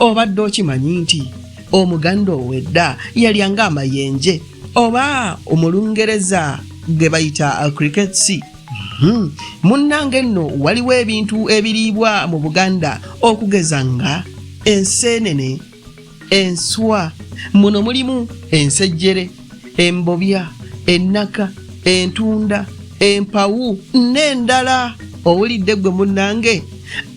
obadde okimanyi nti omuganda owedda yalyanga amayenje oba omulungereza ge bayita cricket sea Hmm. munnange nno waliwo ebintu ebiriibwa mu buganda okugeza nga enseenene enswa muno mulimu ensejjere embobya ennaka entunda empawu n'endala owulidde ggwe munnange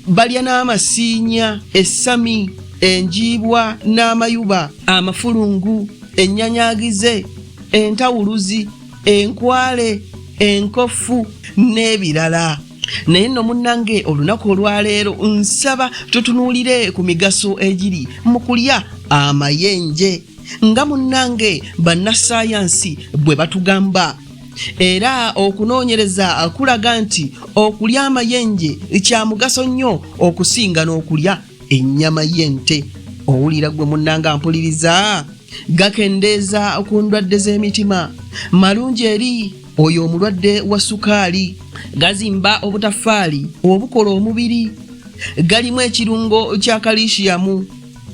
balya n'amasiinya essami enjiibwa n'amayuba amafulungu ennyanyagize entawuluzi enkwale enkofu n'ebirala naye nno munnange olunaku olwaleero nsaba tutunuulire ku migaso egiri mu kulya amayenje nga munnange bannassaayansi bwe batugamba era okunoonyereza kulaga nti okulya amayenje kya mugaso nnyo okusinga n'okulya ennyama y'ente owulira gwe munnanga mpuliriza gakendeeza ku ndwadde z'emitima malungi eri oyo omulwadde wa sukaali gazimba obutafaali obukola omubiri galimu ekirungo kya kalishiyamu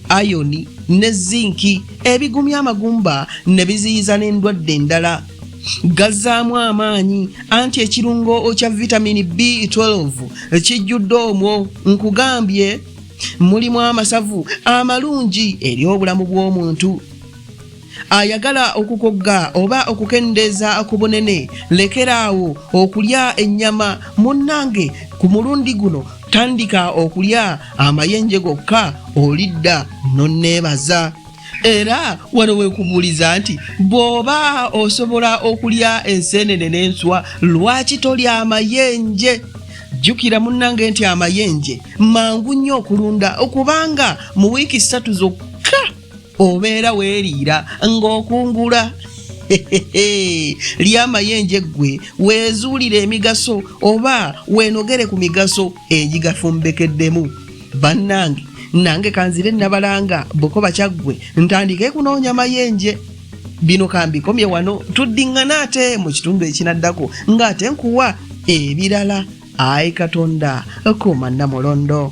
ayoni ne zinki ebigumya amagumba ne biziyiza n'endwadde endala gazzaamu amaanyi anti ekirungo kya vitamini b12 kijjudde omwo nkugambye mulimu amasavu amalungi eri obulamu bw'omuntu ayagala okukogga oba okukendeeza ku bunene lekeraawo okulya ennyama munnange ku mulundi guno tandika okulya amayenje gokka olidda nonneebaza era wano wekubuuliza nti bw'oba osobola okulya enseenene n'enswa lwaki tolya amayenje jjukira munnange nti amayenje mangu nnyo okulunda okubanga mu wiiki ssatu zokka obeera weeriira ng'okungula lyamayenje eggwe weezuulira emigaso oba weenogere ku migaso egigafumbekeddemu bannange nange kanzire nabalanga bukoba kyaggwe ntandike kunoonya mayenje bino kambikomye wano tuddiŋŋana ate mu kitundu ekinaddako ng'ate nkuwa ebirala ayi katonda kumanna mulondo